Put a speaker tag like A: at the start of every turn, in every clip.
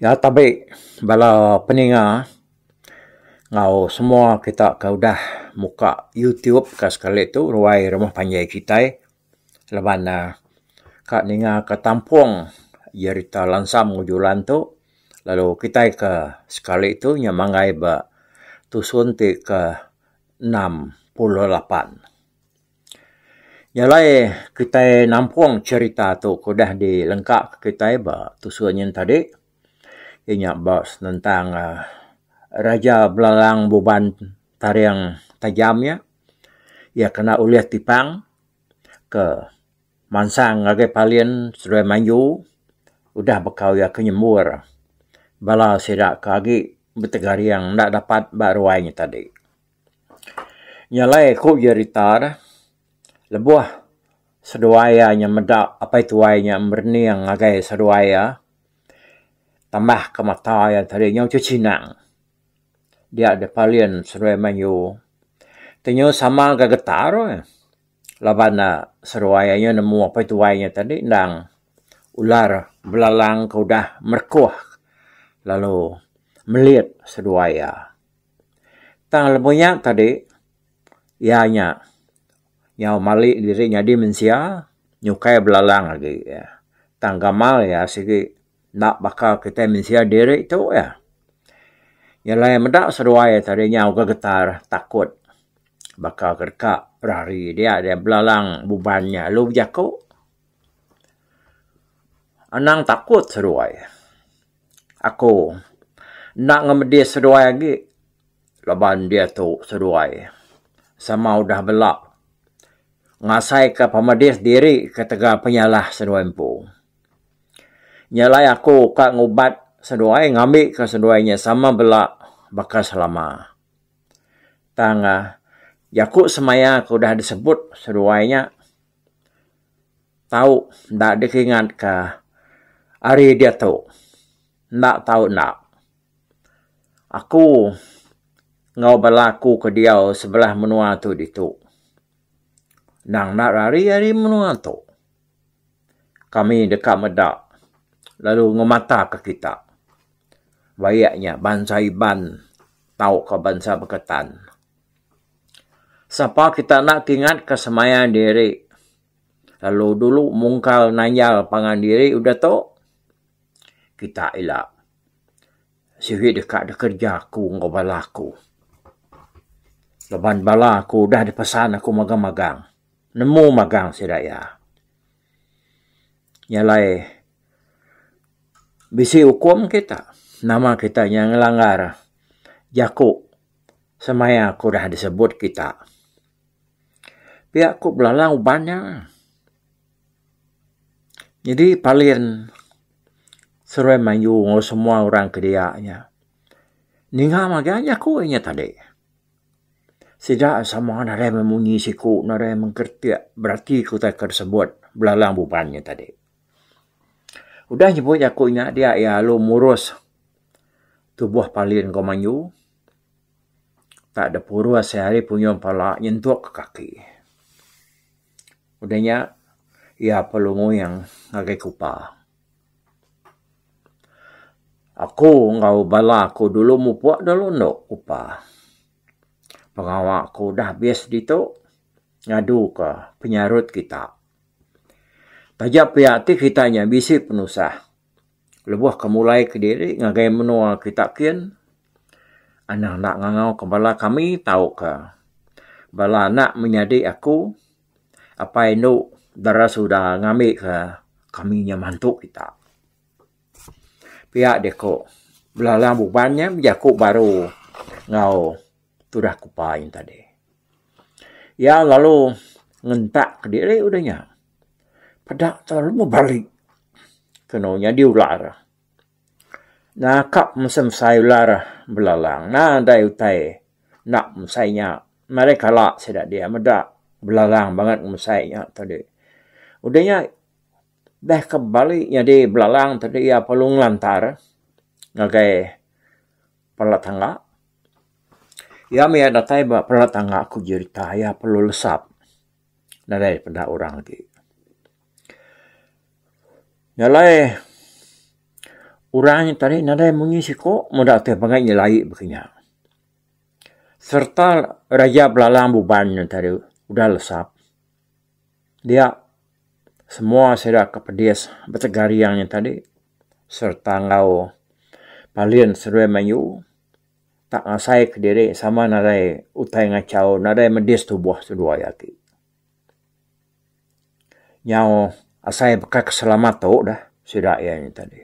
A: Nya tabe bala peninga enggau semua kita ke udah muka youtube ka sekali tu ruai rumah panjai kitai laban ne ka ninga ka tampung jerita lansam enggau julan tu lalu kitai ka sekali tu nya manggai ba tusun ti ke enam puluh lapan. Jalai kitai nampung jerita tu ke udah di lengka ka kitai ba tusun nyin tadi iya nya ba senentang raja belalang buban taring tajam nya. Iya kena ulih tipang ke mansang ngagai Parlin seduai manju udah bekau iya ke nyembur bala sida ke agi betegaring enda dapat ba ruai nya tadi. Nya alai ku jerita deh lebuh seduai iya nya meda apai tuai iya nya berening ngagai seduai iya tambah ke mata iya tadi nyau tu chinang. dia deh Palin Seruai Manyu. Tenyu sama ga getar weh laban ne seruai aye nemu apai tuai nye tadi endang ular belalang ke udah merekoh lalu melit seduai iya. Tang lebuh nya tadi iya nya nyau mali diri nyadi mensia nyukai belalang agi iya. Tang gamal iya sigi. Enda baka kitai mensia diri tu iya. Iya alai meda seduai iya tadi nyau ke getar takut baka ke deka berari dia dia belalang buban iya lalu bejaku. Anang takut seduai. Aku enda ngemedis seduai agi laban diatu seduai sama udah bela ngasaika pemedis diri ketegal penyalah seduai empu. Nya alai aku ka ngubat seduai ngambi ka seduai nya sama bela baka selama. Tang uhh jaku semaya ke udah disebut seduai nya tau enda dikingat ka hari diatu enda tau enda. Aku enggau bala aku ke diau sebelah menua tu ditu endang enda rari ari menua tu. kami deka meda lalu ngemataka kita bayak nya bansa Iban tauka bansa Beketan. Sapa kita enda kingat ke semaya diri lalu dulu mungkal nanyal pangan diri udah tu kita ila sigi deka kerja aku enggau bala aku laban bala aku udah dipesan aku magang-magang. Nemu magang sida iya. Nya alai bisi ukum kita nama kita nya ngelanggar jaku semaya ke udah disebut kita. Pia ku belalang uban nya. Nyadi palen seruai mayuh enggau semua orang ke dia nya ninga magang jaku inya tadi. Sida sama nadai meh munyi siku nadai meh ngeretik berati ku utai ke disebut belalang buban nya tadi. Udah nyebut jaku nya dia iya lalu murus tubuh palin ke manyu tak de purus iya ari punyung pala nyentuk ke kaki. Udah nya iya perlu nguing ngagai kupa. Aku enggau bala aku dulu mupok dulu endo kupa. Pengawa aku udah habis ditu ngadu ka penyarut kita. Taja pia ti kita nya bisi penusah lebuh ke mulai kediri ngagai menua kita kin anang enda ngangau ka bala kami tau ka bala anak menyadi aku. apai indu dara suda ngambi ka kami nya mantu kita. Pia deh ko belalang buban nya bejaku baru enggau tudah ku pai nya tadi. Iya lalu ngentak ka diri udah nya peda tau meh balik keno nya diular. Naka mesem sai ular belalang na dai utai enda mesai nya marai kala sida dia meda belalang banget mesai nya tadi udah nya dah ke bali nyadi belalang tadi iya perlu ngelantar ngagai pala tangga iya mih datai ba pala tangga ku jerita iya perlu lesap nadai peda orang agi. Nya alai orang tadi nadai munyi siko meda ti pangan nya lai baka nya. Serta raja belalang buban nya tadi udah lesap dia semua sida ke pedis betega ariang nya tadi serta enggau Palin Seruai Mayu tak ngasai kediri sama nadai utai ngachau nadai medis tuboh sendu aya ti. Nyau asai baka ke selamat tu dah sida iya nya tadi.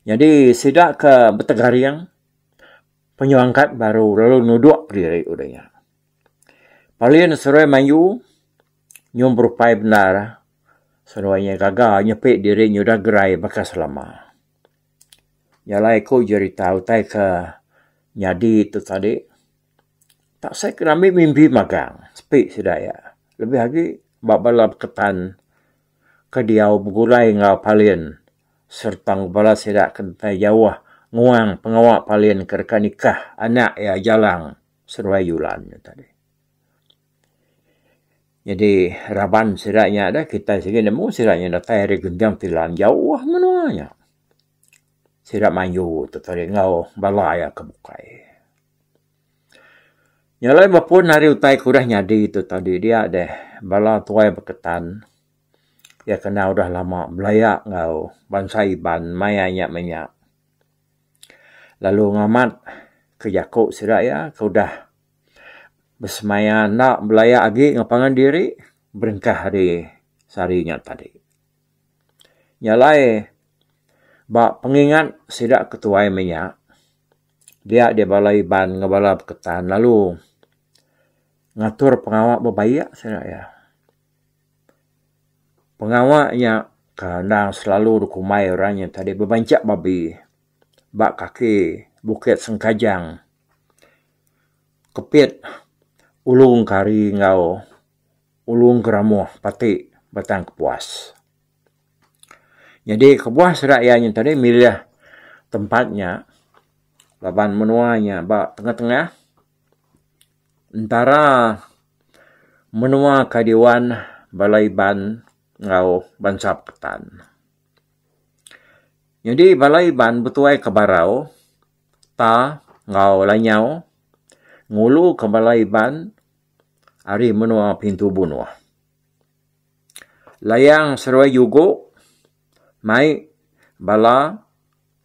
A: Nyadi sida ke betegaring penyelangkat baru lalu nudok diri udah nya. Palin seduai mayuh nyuh berupai bendar seduai inya gaga nyepi diri nyudah gerai baka selama. Nya alai ku jerita utai ke nyadi tu tadi. Tak sai ke rami mimbi magang sepi sida iya lebih agi ba bala beketan ke diau begulai enggau Parlin sereta enggau bala sida ke entai jauh nguang pengawa Parlin ke deka nikah anak iya Jalang seduai Yulan nya tadi. Nyadi raban sida nya deh kitai sigi nemu sida nya datai ari Genjang Tilam jauh menua nya. Sida manju tu tadi enggau bala iya ke bukai. Nya alai mapun ari utai ke udah nyadi tu tau diri dia deh bala tuai beketan iya kena udah lama belaya enggau bansa Iban mai anya meh nya lalu ngamat ke jaku sida iya ke udah besemaya enda belaya agi enggau pangan diri berengkah ari sehari nya tadi. Nya alai ba pengingat sida ke tuai meh nya Dia dia bala Iban enggau bala Beketan lalu ngatur pengawa bebaik sida iya. Pengawa nya ke endang selalu dikumbai orang nya tadi bebanchak babi ba kaki Bukit Sengkajang, Kepit Ulung Kari enggau Ulung Geramoh pati Batang Kepuas. Nyadi kebuah sida iya nya tadi milih tempat nya laban menua nya ba tengah-tengah entara menua ke diwan bala Iban enggau bansa Ketan. Nyadi bala Iban betuai ke barau Ta enggau Lanyau ngulu ke bala Iban ari menua Pintu Bunoh. Layang seruai jugo mai bala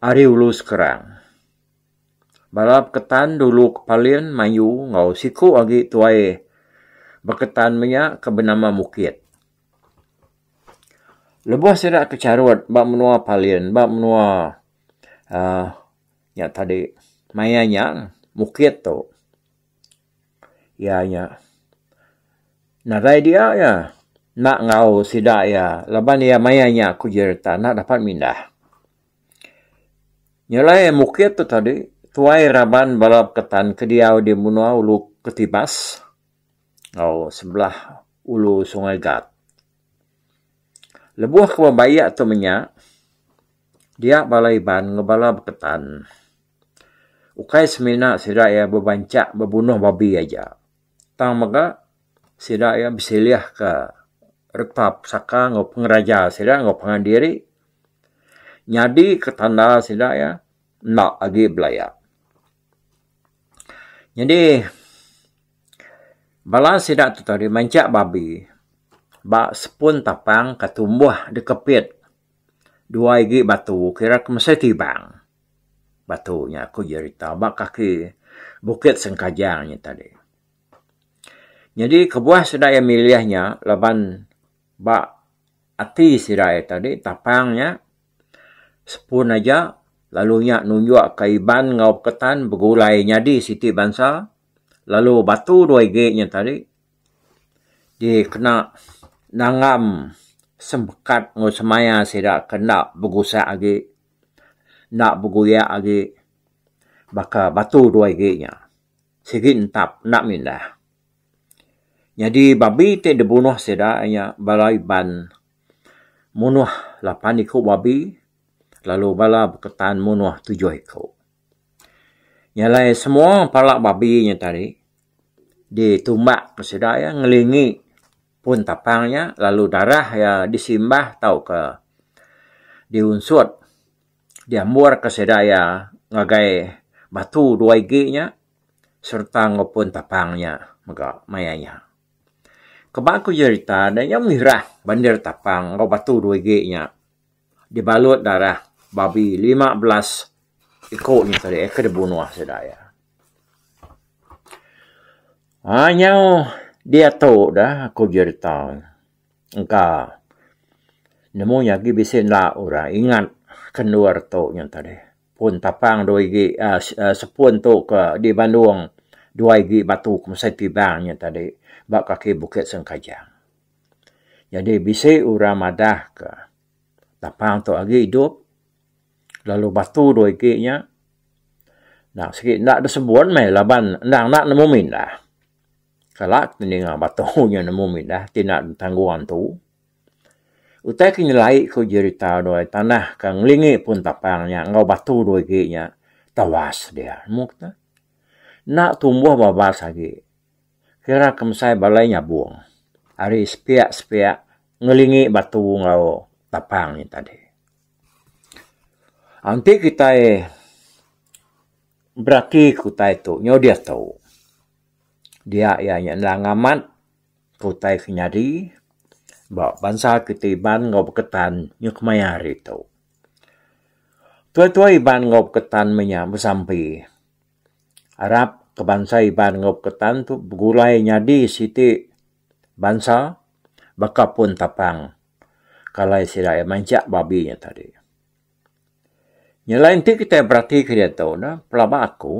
A: ari ulu Skrang. Bala beketan dulu ke Palin mayu enggau siku agi tuai beketan menya ke benama Mukit. Lebuh sida ke charut ba menua Palin ba menua aaa nya tadi Maya Nyang, Mukit tu. Iya nya nadai dia iya enda enggau sida iya laban iya maya nya aku ji reta enda dapat mindah. Nyelai mukit tu tadi tuai raban bala beketan ke diau di menua ulu Ketibas enggau sebelah ulu Sungai Gat. Lebuh ke bebaya tu menya dia bala Iban enggau bala beketan. Ukai semina sida iya bebancak bebunuh babi aja tang mega sida iya besilihka reta pesaka enggau pengeraja sida enggau pangan diri nyadika tanda sida iya enda agi belaya. Nyadi bala sida tu tadi mancak babi ba sepun tapang ka tumbuh dikepit dua igi batu kira ke mesai tibang. Batu nya aku jerita ba kaki Bukit Sengkajang nya tadi. Nyadi kebuah sida iya milih nya laban ba ati sida iya tadi tapang nya sepun aja lalu nya nunjukka Iban enggau Ketan begulai nyadi siti bansa lalu batu dua igi nya tadi dikena nanggam semekat enggau semaya sida ke enda begusak agi. Enda beguyak agi baka batu duai agi nya. Sigi entap enda mindah. Nyadi babi ti dibunuh sida nya bala Iban munuh lapan iku babi lalu bala beketan munuh tujuh iku. Nya alai semua pala babi nya tadi ditumbak sida iya ngelingi. Pun tapang iya, lalu darah iya disimbah tauka diunsut diamburka sida iya ngagai batu dua igi nya sereta enggau pun tapang nya mega maya nya. Keba ku jerita deh, iya mirah bandir tapang enggau batu dua igi nya. dibalut darah babi lima belas iku nya tadi ke dibunuh sida iya. Aaa nyau diatu da aku jerita engka nemu nya agi bisi enda orang ingat ke endur tu nya tadi. Pun tapang dua igi aaa sepun tu ke di Bandung dua igi batu ke mesai tibang nya tadi ba kaki Bukit Sengkajang. Nyadi bisi orang madah ka tapang tu agi idup lalu batu dua igi nya enda sigi enda da sebon meh laban endang enda nemu mindah. Kala ti ninga batu nya nemu mindah ti enda ditanggung antu. Utai ke nyelai ku jerita doi tanah ka ngelingi pun tapang nya enggau batu dua igi nya tawas dia. Enda tumbuh babas agi. Kira kemsai balai nyabung ari sepiak-sepiak ngelingi batu enggau tapang nya tadi. Enti kitai berati ke utai tu nyau diatu, dia iya nya endang amat ke utai ke nyadi ba bansa kitai Iban enggau Beketan nya kemaya hari tu. Tuai-tuai Iban enggau Beketan menya besampi. arap ke bansa Iban enggau Ketan tu begulai nyadi siti bansa baka pun tapang ke alai sida iya mancak babi nya tadi. Nyelai enti kitai beratika diatu ne pelaba aku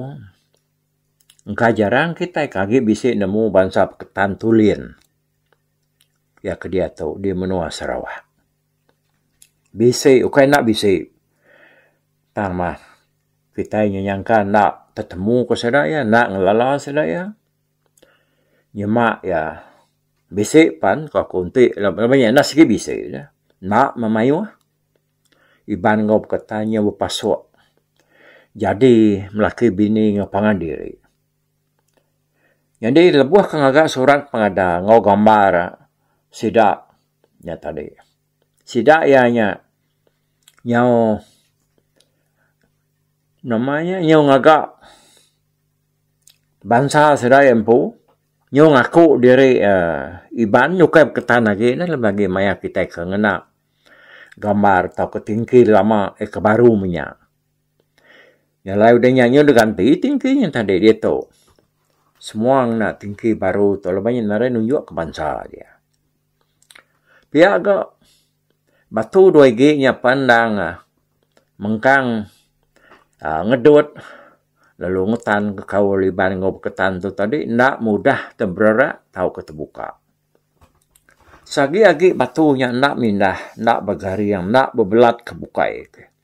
A: engka jarang kitai ke agi bisi nemu bansa Ketan Tulin iya ke diatu di menua Sarawak. Bisi ukai enda bisi tang mah kitai nyu nyangka enda tetemu ku sida iya enda ngelala sida iya nyema iya bisi pan ko ku enti laban iya enda sigi bisi ja enda meh mayuh Iban enggau beketanya bepasok jadi laki bini enggau pangan diri. Nyadi lebuh aku ngaga surat pengada enggau gambar sida nya tadi sida iya nya nyau nama nya nyau ngaga bansa sida iya empu nyau ngaku diri Iban ukai beketan agi ne laban agi maya kitai ke ngena gambar tauka tingki lama eh ke baru menya. Nya alai udah nya udah ganti ti engki nya tadi diatu. Semua ngena ti engki baru tu laban nya ngaran nunjuk ke bansa dia. Pia ga batu dua igi nya pen endang uhh mengkang uhh ngedut lalu ngetan ke kaul Iban enggau Beketan tu tadi enda mudah te bererak tauka tebuka. Sagi agi batu nya enda mindah, enda begaring, enda bebelat ke bukai.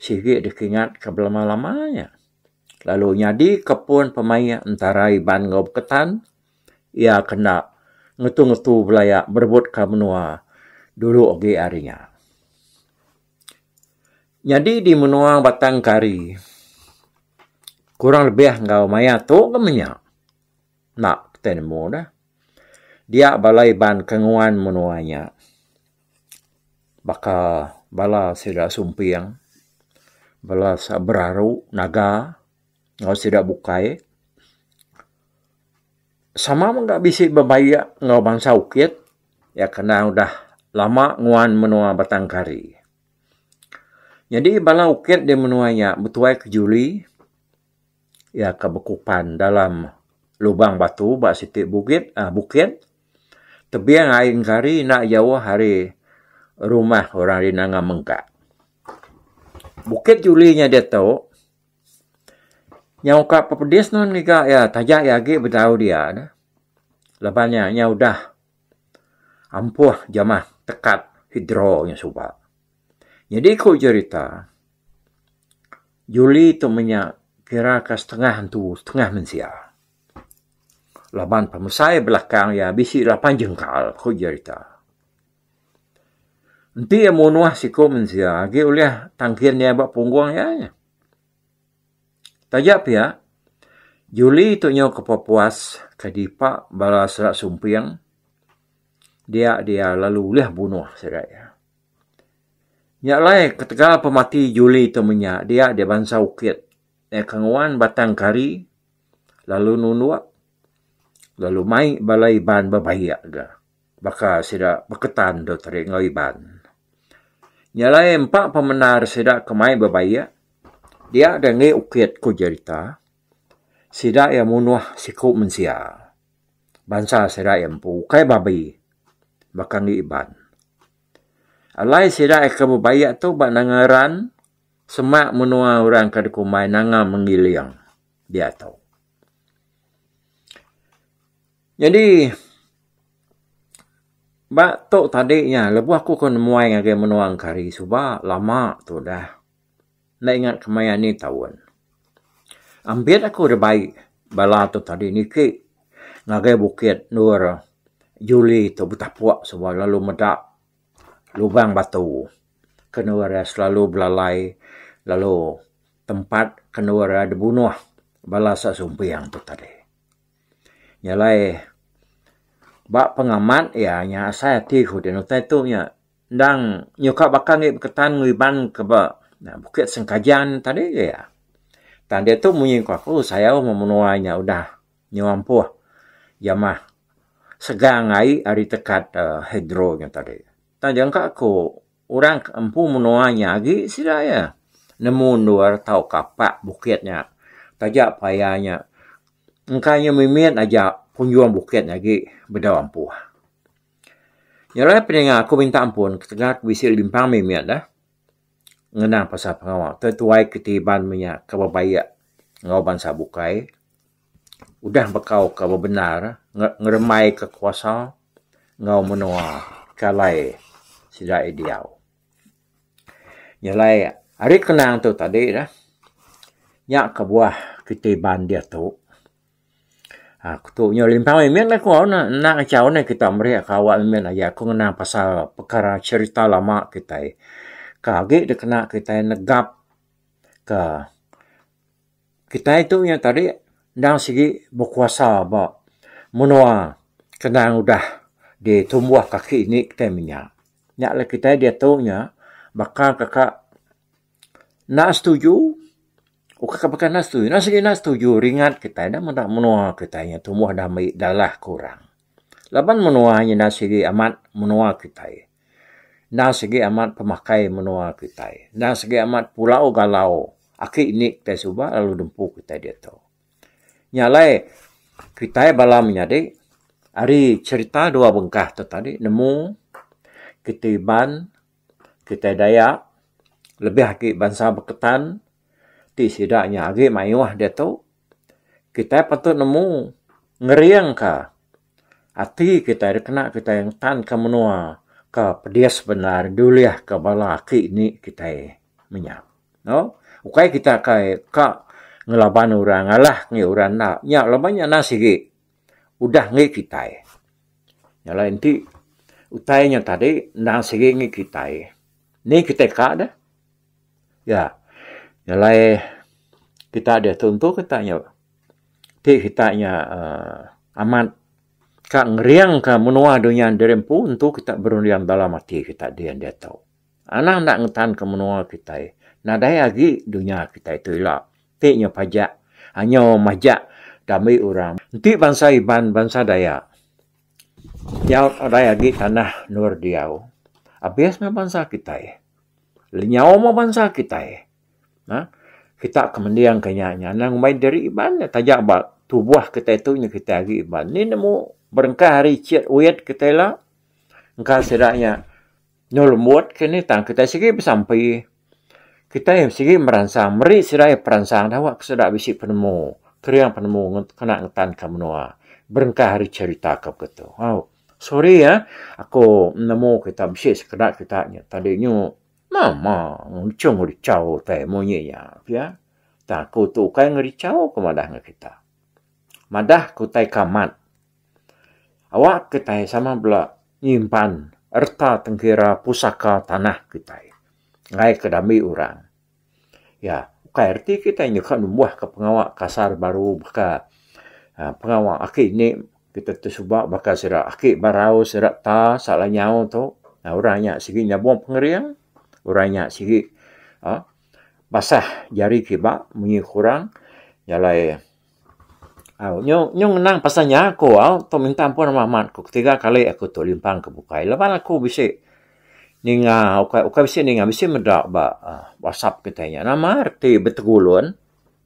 A: sigi dikingatka belama-lama nya lalu nyadika pun pemaik entara Iban enggau Beketan iya ke enda ngetu-ngetu belaya berebutka menua dulu agi hari nya. Nyadi di menua Batang Kari kurang lebih enggau maya tu ke menya enda kitai nemu dah dia bala Iban ke nguan menua nya. baka bala sida sumping, bala beraru naga enggau sida bukai sama mega bisi bebayak enggau bansa Ukit iya ke endang udah lama nguan menua Batang Kari. Nyadi bala Ukit di menua iya betuai ke Julie. Iya ke bekupan dalam lubang batu ba siti bugit aaa bukit. Tebing ai engkari enda jauh ari rumah orang ri Nanga Mengkak. Bukit Juli nya diatu nyau ka pepedis nun ngiga iya taja iya agi betau dia neh laban nya nya udah ampuh jamah tekat hidro nya suba. Nyadi ku jerita, Julie tu menya kira ka setengah antu setengah mensia. Laban pemesai belakang iya bisi lapan jengkal ku jerita. Enti iya munuh siku mensia agi ulih tangkin iya ba punggung iya nya. Taja pia, Julie tu nyau ke pepuas ke dipa bala sera sumping dia dia lalu ulih bunuh sida iya. Nya alai ketegal pemati juli tu menya dia di bansa ukit iya ke nguan batang kari lalu nundok lalu mai bala Iban bebayak ga baka sida beketan dau tadi enggau Iban. Nya alai empa pemendar sida ke mai bebayak dia dei ngi ukit ku jerita sida iya munuh siku mensia. bansa sida iya empu ukai ba abei baka andu Iban. Alai sida iya ke bebayak tu ba nanga ran semak menua orang ke dikumbai nanga mengiling dia tu. Nyadi ba tu tadi nya lebuh aku ke nemuai ngagai menua Engkari suba lama tu dah. Enda ingat ke maya ni taun. Ambit aku dibai bala tu tadi niki ngagai bukit endur juli tu betapuk suba lalu meda lubang batu ke endur iya selalu belalai lalu tempat ke endur iya dibunuh bala sak sumping tu tadi. Nya alai ba pengamat iya nya asai ati ku ti nutai tu nya. Endang nyuka baka enggai beketan ngeriban ke ba Bukit Sengkajan tadi ke iya. Tang diatu munyi ku aku sayau meh menua inya udah nyau ampuh jamah segang ai ari tekat uhh hidro nya tadi. Tang jangka ku orang ke empu menua nya agi sida iya nemu endur tauka pak bukit nya taja paya nya engka inya mimit aja punjung bukit nya agi bedau ampuh. Ngerai peninga aku minta ampun ketegal aku bisi limpang mih mia dah ngena pasal pengawa tu tuai keti iban mia ke bebayak enggau bansa bukai udah bekau ke bebendar ngerembai ke kuasa enggau menoa ke alai sida iya diau. Nyelai ari kenang tu tadi dah nya kebuah keti iban diatu. Aku tu nya limpang meh mit aku na enda ngachau neh kita meri ka awak meh mit agi aku ngenang pasal pekara cherita lama kitai ka agi dikena kitai negap ka kitai tu nya tadi endang sigi bekuasa ba menoa ke endang udah ditumboh kaki indi kitai menya. Nya lah kitai diatu nya baka ka ka Enda setuju, uka ke baka enda setuju. Enda sigi enda setuju ringat kitai enda meda menua kitai nya tumbuh dami dalah ke orang. Laban menua nya enda sigi amat menua kitai. Enda sigi amat pemakai menua kitai. Enda sigi amat pulau galau aki indi kitai suba lalu dempu kitai diatu. Nya alai kitai bala menyadi ari cherita dua bengkah tu tadi nemu ketiban kitai Dayak lebih agi bansa Beketan ti sida nya agi mayuh diatu kitai patut nemu ngeringka ati kitai dikena kitai ngetanka menua ke pedis bendar diulihka bala aki indi kitai menya. Au ukai kita kai ka ngelaban orang ngalah ngagai orang enda nya laban nya nan sigi. udah enggi kitai. Nya alai enti utai nya tadi endang sigi enggi kitai, ni kitai ka deh? Ya. Nya alai kita diatu entu kita nya ti kita nya aaa amat ka ngeringka menua dunya diri empu entu kita berunding dalam ati kita dian diatu. Anang enda ngetanka menua kitai, nadai agi dunya kitai tu ila. Ti nyo pajak anyo majak kami urang enti bansa Iban, bansa Dayak nyau alai agi tanah endur diau. Abis meh bansa kitai. Lenyau meh bansa kitai. Nah, kita ke mending ke nya nya nang mai diri Iban nya taja ba tuboh kitai tu nya kitai agi Iban. Ni nemu berengkah ari Encik Wet kitai la engka sida nya. Endur lembut ke ni tang kitai sigi besampi. Kitai sigi meransang meri sida iya peransang dau ke sida bisi penemu, kering penemu kena ngetanka menua berengkah ari cherita ke begitu. Au, sorry ah aku nemu kita bisi sekeda kita nya tadi nyu nama ngechung ngerichau utai munyi nya pia. Tang aku tu ukai ngerichau ku madah ngan kita. Madah ke utai ke amat. Awak kitai sama bela nyimpan erta tengkira pusaka tanah kitai enggai ke dami orang. Ya, ukai reti kitai nyuka numbuhka pengawa kasar baru baka pengawa aki indi kitai ti suba baka sida aki barau, sida ta, salah nyau tu. Orang nya sigi nyabong pengering, orang nya sigi basah jari kiba munyi kurang jalai. Au nyu nyu ngenang pasal nya aku au tu minta ampun ama amat ku ketiga kali aku tu limpang ke bukai laban aku bisi ninga ukai ukai bisi ninga bisi meda ba aaa whatsapp kitai nya nama reti betegulun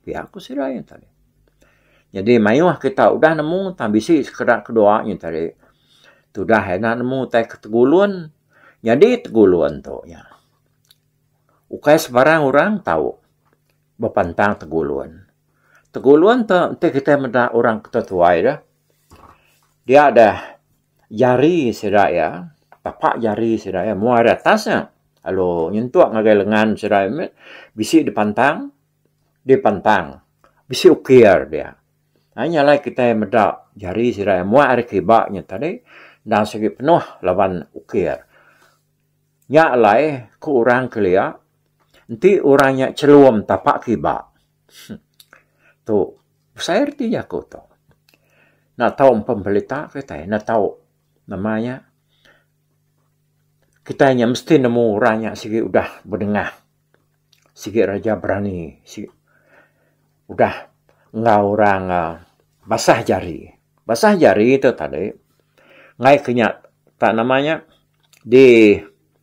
A: pia ku sida nya tadi. Jadi mayuh kita udah nemu tang bisi sekeda kedua nya tadi tudah enda nemu utai ke tegulun nyadi tegulun tu nya ukai sembarang orang tau. Bepantang Tegulun. Tegulun tu enti kitai meda orang ke tuai deh dia deh jari sida iya tapak jari sida iya muai ari atas nya lalu nyentuk ngagai lengan sida iya meh bisi dipantang dipantang bisi ukir dia. Ai nya alai kitai meda jari sida iya muai ari kiba nya tadi enda sigi penuh laban ukir. Nya alai, ku orang kelia, enti orang nya chelum tapak kiba. Tu besai reti jaku tu. Enda tau empa belita kitai, enda tau nama nya. Kitai nya mesti nemu orang nya sigi udah bedengah Sigi raja berani sigi udah enggau orang basah jari. Basah jari tu tadi ngaih ke nya tak nama nya di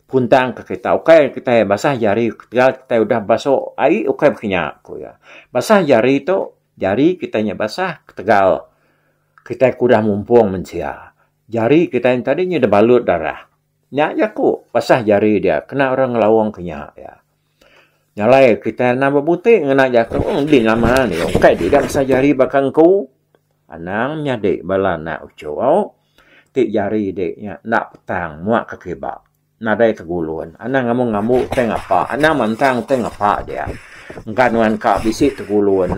A: puntang ke kita ukai kitai basah jari ketegal kitai udah basu ai ukai ba kinya ku iya. Basah jari tu jari kitai nya basah ketegal kitai ke udah mumpung mensia. Jari kitai nya tadi nya dah balut darah. Nya jaku basah jari dia kena orang ngelawong ke nya iya. Nya alai kitai anang bebuti ngena jaku enti nama nya ukai dida basah jari baka engku. Anang nyadi bala anak uchuh ti jari di nya enda petang muak ke kiba nadai ke gulun. Anang ambu ngambu utai ngapa anang mantang utai ngapa dia engka nuan ka bisi tegulun.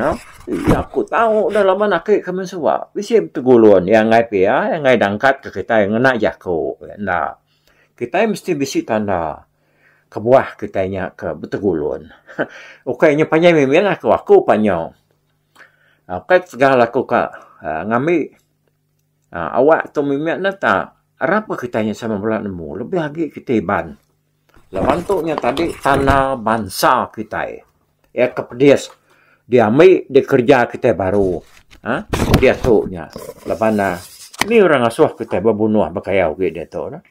A: Iya ku tau udah laban ake ke main suba bisi betegulun iya angai pia iya angai dangkat ke kitai ngena jako enda kitai mesti bisi tanda kebuah kitai nya ke betegulun ukai nyu panjai mih mih laku aku pa nyu ukai tegal aku ka um ngambi um awak tu mih mih nta arap ke kitai sama bala nemu lebih agi kitai Iban. Laban tu nya tadi tanah bansa kitai iya ke pedis diambi dikereja kitai baru uhh diatu nya laban nih orang ngasuh kitai bebunuh bekayau agi diatu nih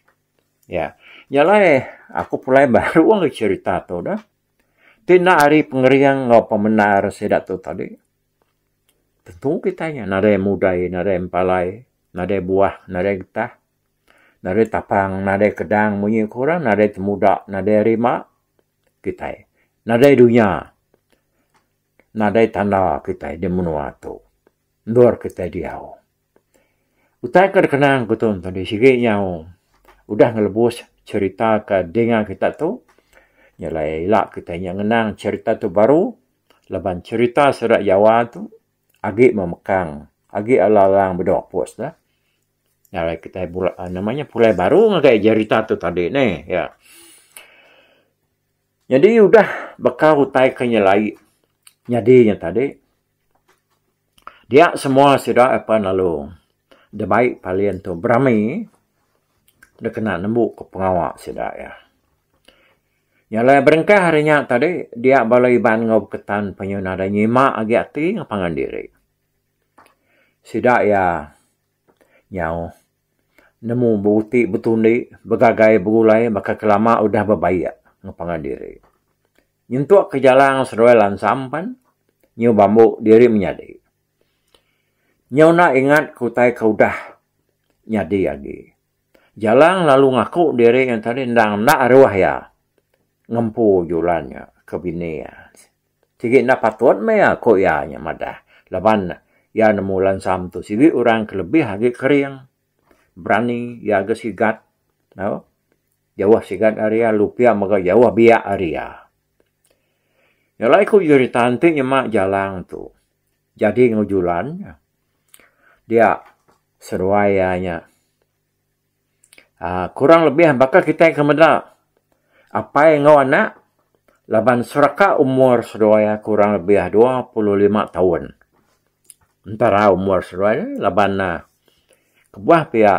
A: iya nya alai aku pulai baru angai cherita tu dah ti enda ari pengering enggau pemendar sida tu tadi tentu kitai nya nadai mudai nadai mepalai nadai buah nadai getah. nadai tapang, nadai kedang munyi ku orang nadai temuda, nadai rima kitai. Nadai dunya, nadai tanda kitai di menua tu. Endur kitai diau. Utai ke dikenang ku tu enti sigi nyau udah ngelebus cherita ke dinga kita tu nya alai ila kitai nya ngenang cherita tu baru laban cherita sida Jawa tu agi memekang, agi alang-alang bedok pus neh. Alai kitai bula nama nya pulai baru ngagai jerita tu tadi neh iya. Nyadi udah baka utai ke nyelai nyadi nya tadi dia semua sida ap lalu dibai palin tu berami dep kena nembu ke pengawa sida iya. Nya alai berengkah ari nya tadi dia bala Iban enggau baka Ketan nyima agi ati ngeban diri. Sida iya Nyau nemu beruti betundi begagai begulai baka ke lama udah bebayak enggau pangan diri. Nyentuk ke jalang seduai lansam pan nyu bambu diri menyadi. Nyau enda ingat ke utai ke udah nyadi agi. Jalang lalu ngaku diri iya tadi endang enda aruh iya ngempu julan nya ke bini iya. Sigi enda patut meh iya, ku iya nya madah laban iya nemu lansa metu sigi orang ke lebih agi kering, berani iya agi sigat tau. Jauh sigat ari iya lalu pia mega jauh biak ari iya. Nya alai ku jerita enti nyema Jalang tu. Jadi enggau julan dia seduai iya nya aaa kurang lebih baka kitai ke meda apai enggau anak laban seraka umur seduai iya kurang lebih dua puluh lima taun. Entara umur seduai ne laban ne kebuah pia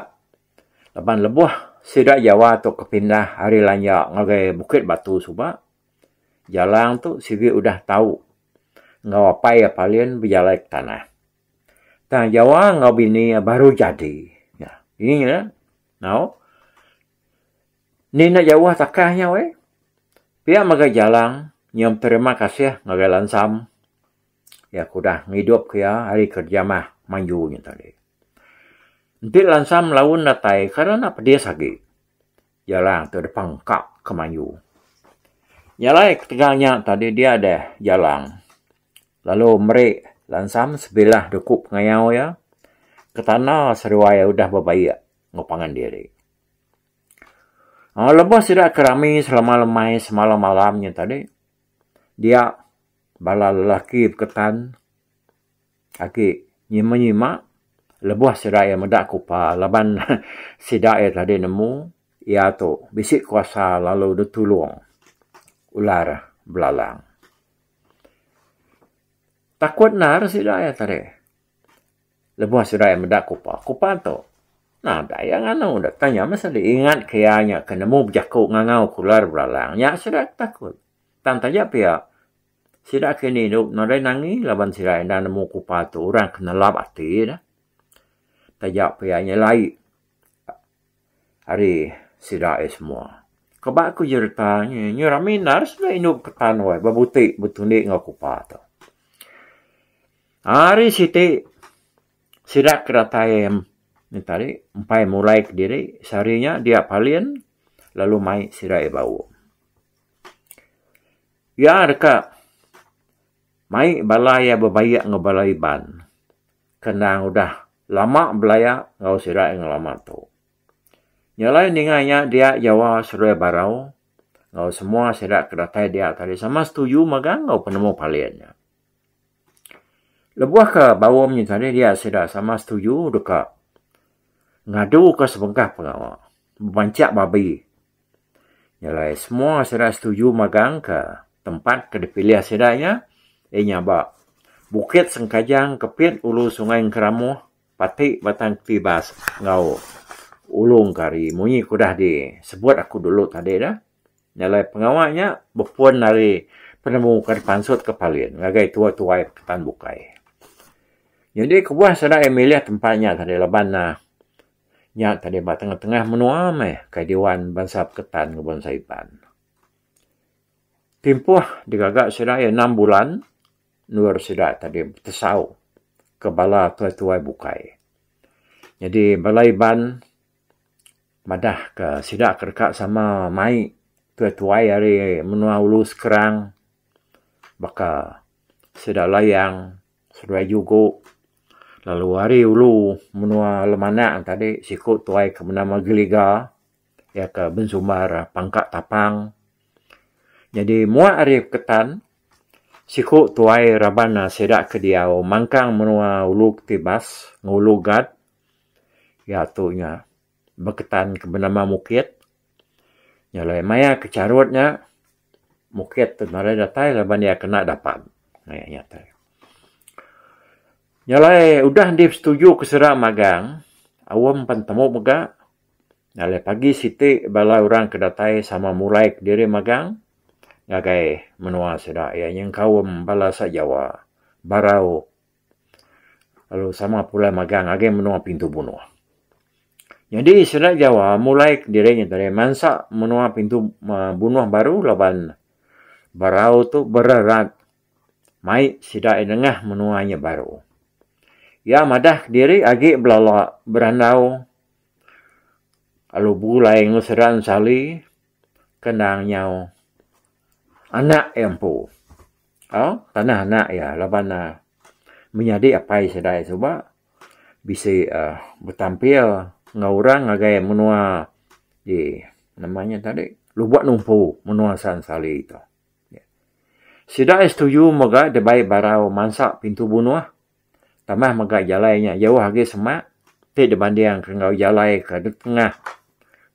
A: laban lebuh sida Jawa tu ke pindah ari Lanja ngagai Bukit Batu suba. Jalang tu sigi udah tau enggau apai iya Palin bejalai ke tanah. Tang Jawa enggau bini iya baru jadi. Nya nya nya tau. Enti enda jauh takah nya weh. Pia mega Jalang nyium terima kasih ngagai Lansam iya ke udah ngidupka iya ari kereja mah manju nya tadi. Enti Lansam laun datai kan enda pedis agi. Iya lang tu depa engka ke mayu. Nya alai ketegal nya tadi dia deh iya lang lalu meri lansam sebilah duku pengayau iya ke tanda seduai iya udah bebaik enggau pangan diri. Aaa lebuh sida ke rami selama lemai semalam malam nya tadi dia bala lelaki beketan Agi nyima nyima lebuh sida iya meda kupa laban sida iya tadi nemu iya tu bisi kuasa lalu ditulung ular belalang. Takut endar sida iya tadi lebuh sida iya meda kupa. Kupa tu nadai iya nganu deh tanya meh sadi ingat ke iya nya ke nemu bejaku ngangau ke ular belalang nya sida ke takut. Tang taja pia. Sida ke ini dok nadai nangi laban sida enda nemu kupa tu orang ke nelap ati dah. Taja pia nya lai ari sida ai semua. Kaba ku jereta nya nya rami endar sida indu ke tan wai ba buti betundi enggau kupa tu. Ari siti sida ke datai nya tadi empai mulai kediri sehari nya dia palin lalu mai sida ai bau. Iya deka mai bala iya bebayak enggau bala Iban ke endang udah lama belaya enggau sida enggau lama tu. Nya alai ninga iya dia Jawa Seruai Barau enggau semua sida ke datai dia tadi sama setuju mega enggau penemu Palin nya. Lebuh ke bau nya tadi dia sida sama setuju deka ngadu ke sebengkah pengawa bebanchak babi. Nya alai semua sida setuju magang ka tempat ke dipilih sida nya iya nya ba Bukit Sengkajang Kepit Ulu Sungai Engkeramuh pati Batang Ketibas enggau Ulu Engkari munyi ke udah disebut aku dulu tadi dah. Nya alai pengawa nya bepun ari penemu ke dipansut ke Palin ngagai tuai-tuai Ketan Bukai. Nyadi kebuah sida iya milih tempat nya tadi laban Nya tadi ba tengah-tengah menua meh kai Diwan Bansa Peketan ngeban bansa Iban. Timpuh digaga sida iya enam bulan endur sida tadi betesau ke bala tuai-tuai bukai. Nyadi bala Iban madahka sida ke deka sama mai tuai-tuai ari menua ulu sekerang baka sida Layang. Seduai jugo lalu ari ulu menua Lemanang tadi siku tuai ke benama Geliga iya ke bensumbar pangka tapang. Nyadi mua ari Ketan siku tuai raban sida ke diau mangkang menua Ulu Ketibas enggau Ulu Gat iya tu nya. beketan ke benama Mukit. Nya alai maya ke charut nya Mukit tu nadai datai laban iya kena dapan. Maya nya tu. Nya alai udah deh setuju ke sera magang, Aum pan temu mega. Nya alai pagi siti bala orang ke datai sama mulai kediri magang ngagai menua sida iya nyengkaum bala sajawa, barau lalu sama pulai magang ngagai menua pintu bunoh. Nyadi sida Jawa mulai kediri nya tadi mansa menua pintu aaa bunoh baru laban barau tu bererat mai sida iya nengah menua nya baru. Iya madah kediri agi belala berandau lalu begulai enggau sida ensali. ke endang nyau anak iya empu tau tanah anak iya laban ne menyadi apai sida iya suba bisi uhh betampil enggau orang ngagai menua di nama nya tadi Lubok Numpu menua San Sali tu. Sida iya setuju mega dibai barau mansa pintu bunoh. Tambah mega jalai nya jauh agi semak ti dibandingka enggau jalai ke dek tengah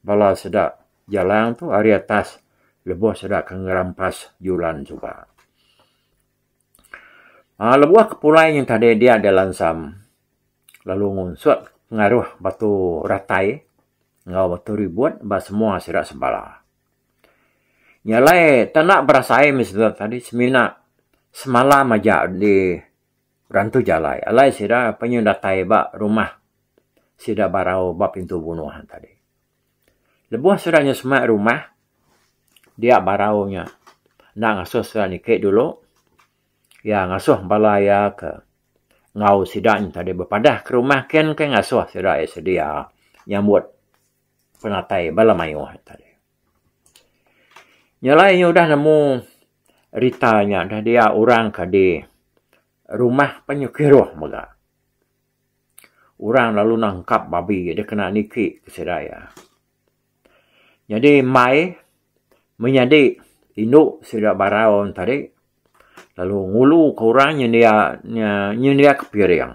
A: bala seda jalang tu ari atas lebuh sida ke ngerampas julan suba. Aaa lebuh ke pulai nya tadi dia deh lansam lalu ngunsut pengaruh batu ratai enggau batu ribut ba semua sida sebala. Nya alai tau enda berasai meh sida tadi semina semalam aja di Rantu jalai alai sida penyuh datai ba rumah sida barau ba pintu bunoh tadi. Leboh sida nyuh semak rumah dia barau nya enda ngasuh sida niki dulu iya ngasuh bala iya ke enggau sida nya tadi bepadah ke rumah ken ke ngasuh sida iya sedia nyambut penatai bala mayuh tadi. Nya alai inya udah nemu rita nya udah dia orang ka di rumah pa inya kiruh mega. Orang lalu nangkap babi deh kena niki ke sida iya. Nyadi mai menyadi indu sida Barau tadi lalu ngulu ka orang nyendia nyendia ka piring.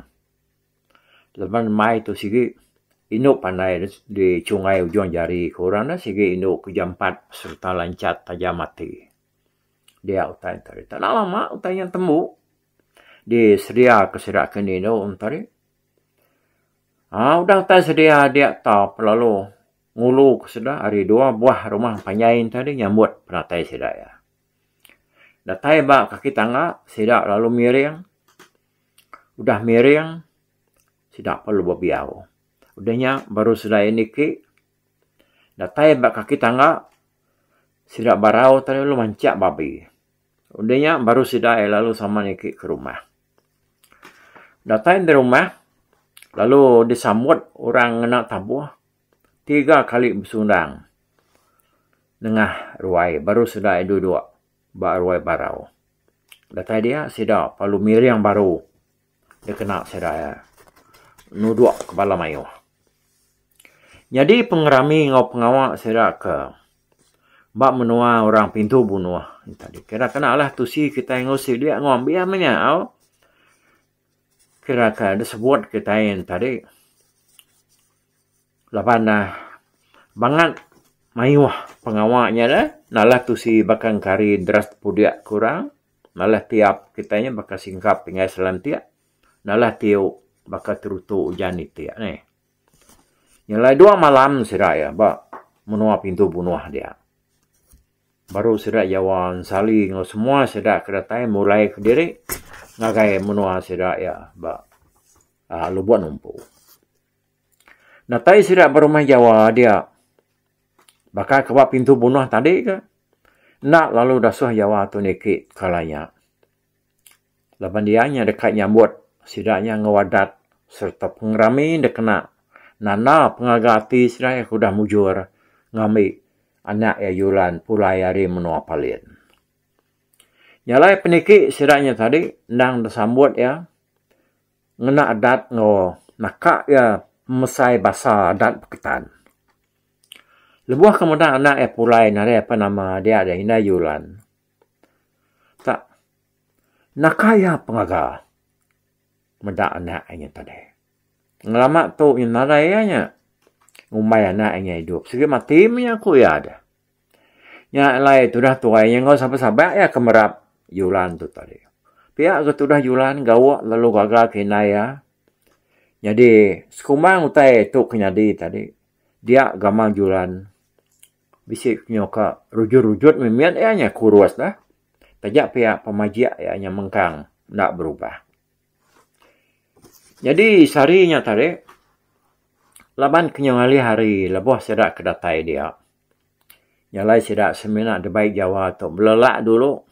A: Leban mai tu sigi indu pandai di chungai ujung jari ke orang ne sigi indu ke jampat sereta lancat tajam ati. Dia utai tadi. Tak na lama utai nya tembu di sedia ke sida ke enda indu tadi. Aaa udah utai sedia dia taup lalu ngulu ke sida ari dua buah rumah panjai tadi nyambut penatai sida iya. Datai ba kaki tangga sida lalu miring udah miring sida perlu bebiau udah nya baru sida ayan iti datai ba kaki tangga sida barau tau lalu manchak babi udah nya baru sida ayan lalu sama niki ke rumah datai nda rumah lalu disambut orang ngena tabuh. tiga kali besundang nengah ruai baru sida iya duduk ba ruai barau. Datai dia sida lalu miring baru dikena sida iya nuduk ke bala mayuh. Nyadi pengerami enggau pengawa sida ke ba menua orang Pintu Bunoh kira kenalah tusi kitai enggau sidi enggau ambis menyau kira ke disebut kitai yen tadi. Laban ne bangat mayuh pengawa nya dah nalah tusi baka engkari deras tepudik ke orang, nalah tiap kitai nya baka singkap tinggai selantik, nalah tiu baka terutu ujan itik nih. Nya alai dua malam sida iya ba menua pintu bunoh dia. Baru sida jawa ensali enggau semua sida ke datai mulai kediri ngagai menua sida iya ba Lubok Numpu. Datai sida ba rumah Jawa dia. Baka ke ba pintu bunah tadi ke. Enda lalu dasuh Jawa tu niki kala nya. Laban dia nya deka nyambut sida nya enggau adat sereta pengerami enda kena nanda pengaga ati sida ke udah mujur ngambi anak iya Julan pulai ari menua Palin. Nya alai peniki sida nya tadi endang disambut iya. ngena adat enggau naka iya pemesai basa adat beketan. Lebuh ke meda anak iya pulai nadai apai nama dia adalah Indai Yulan. Tak naka iya pengaga meda anak inya tadi. Ngelama tu nadai iya nya ngumbai anak inya idup. Sigi mati mih iya ku iya deh. Nya alai tudah tuai iya enggau saban-saban iya ke merap Yulan tu tadi. Pia ke tudah Yulan gawa lalu gaga ke indai iya. Nyadi sekumbang utai tu ke nyadi tadi dia gamal Yulan bisi ke nyau ka rujut-rujut mih mit iya nya kurus lah. Taja pia pemajik iya nya mengkang enda berubah. Nyadi sehari nya tadi laban kinya ngalih hari lebuh sida ke datai dia nya alai sida semina dibai jawa tu belala dulu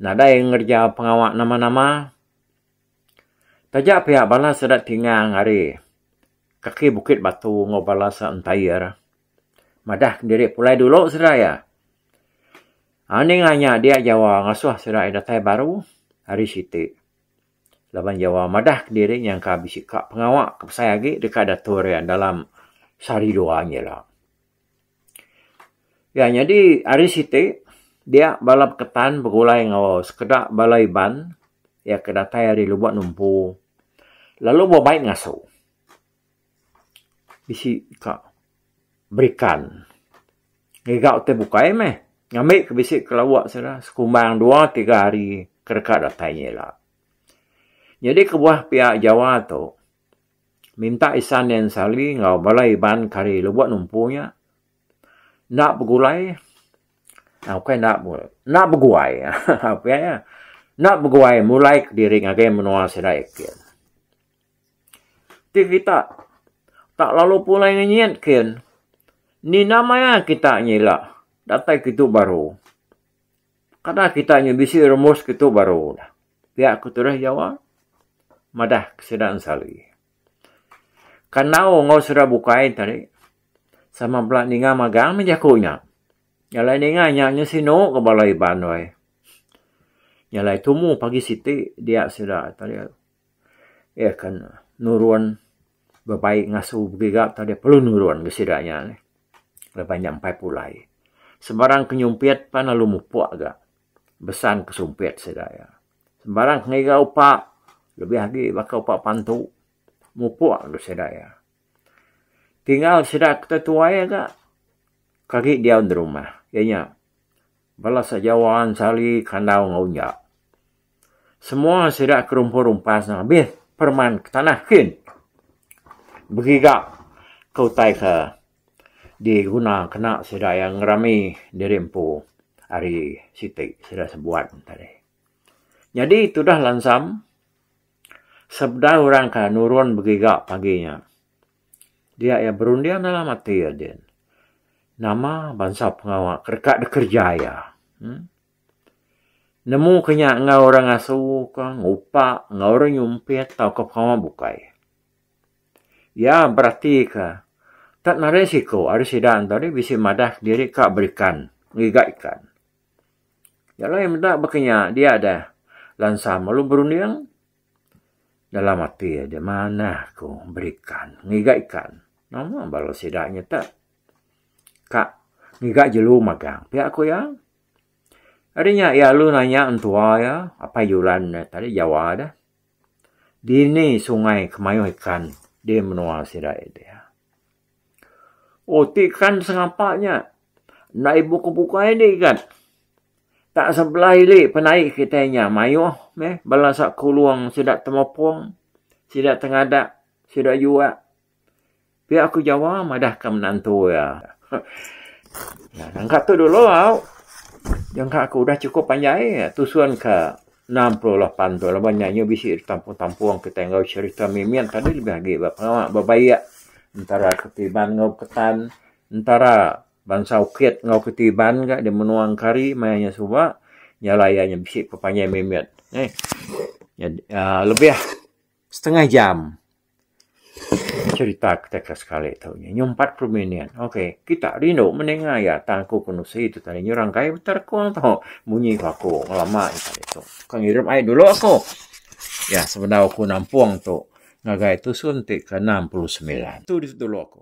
A: nadai ngereja pengawa nama nama taja pia bala sida ti ngang ari kaki bukit batu enggau bala sida entair madah diri pulai dulu sida iya. Ha ninga nya dia Jawa ngasuh serai datai baru ari siti. Laban Jawa madah kediri nyangka bisi ka pengawa ke besai agi deka datur iya dalam sehari dua nya ila. Ya nyadi ari siti dia bala beketan begulai enggau sekeda bala Iban iya ke datai ari lubok numpu lalu ba bai ngasu. Bisi ka berikan. Ngiga ti bukai meh. Ngambi ke bisi ke lawa sida sekumbang dua tiga hari ke deka datai nya ila. Nyadi kebuah pia Jawa tu minta Isan Nyan Sali enggau bala Iban kari lebuh numpu nya enda begulai aaa bukai enda begulai enda beguai aaa pia iya enda beguai mulai kediri ngagai menua sida iti. Ti kita tak lalu pulai ngenyit kin nina maya kita nyila datai ke tu baru kada kita nyu bisi rumus ke tu baru dah pia ku turis jawa madah ke sida ensali kandau enggau sida bukai tadi sama bala ninga magang meh jaku nya jalai ninga nya nyu sinu ke bala Iban wai jalai tumu pagi siti dia sida tadi. Iya akan nurun bebai ngasu begiga tau dia perlu nurun ga sida nya neh laban nya empai pulai. Sembarang ke nyumpit pan lalu mupuk ga besan ke sumpit sida iya. Sembarang ke ngiga upa lebih agi baka upa pantu mupuk ga sida iya. Tinggal sida ke tetuai ga ke agi diau nda rumah iya nya bala sejawa ensali kandau enggau nya. Semua sida ke rumpun rumpas ne abih pereman ke tanah kin begiga ke utai ke diguna kena sida iya ngerami diri empu ari siti sida sebuat ne tadi. Nyadi tudah lansam sebedau orang ke nurun begiga pagi nya dia iya berunding dalam ati iya din nama bansa pengawa ke deka dikereja iya. Nemu ke nya enggau orang asu ke ngupak enggau orang nyumpit tauka pengawa bukai. Iya berati ke tak narit siku ari sida ento ri bisi madah kediri ka berikan ngiga ikan. Nya alai meda baka nya dia deh lansa melu berunding dalam ati aja manah ku berikan ngiga ikan. Nama bala sida nyetek ka ngiga jelu magang pia ku iya. Ari nya iya lalu nanya entua iya, Apai Julan nya tadi Jawa deh, dini sungai ke mayuh ikan di menua sida iya deh. Oh ti ikan sengapa nya. Enda ibuh ke bukai di igat. Tak sebelah ili penai kitai nya mayuh meh bala sa Kulong sida Temepong, sida Tengadak, sida Juak, Pia aku Jawa madahka menantu iya. Nyangka tu dulu au. Nyangka aku udah chukup panjai tusun ke enam puluh lapan tu laban nya nya bisi betampung-tampung kitai enggau serita mimit tadi lebih agi ba pengawa ba baie entara Ketiban enggau Beketan, entara bansa Ukit enggau Ketiban ka di menua Engkari maya nya suba. Nya alai iya nya bisi pepanjai mimit. Eih. Nyadi aaa lebih setengah jam. Cherita kitai ke sekali tu nya nyumpat puru minin. Ok kitak rindu meninga iya tang aku ke nusi tu tadi nya orang kai benter aku ngan tu. Munyi ku aku ngelama iya tadi tu. Ke ngirup ai dulu aku. Iya sebedau aku nampung tu ngagai tusun ti ke enam puluh semilan. Tu dulu aku.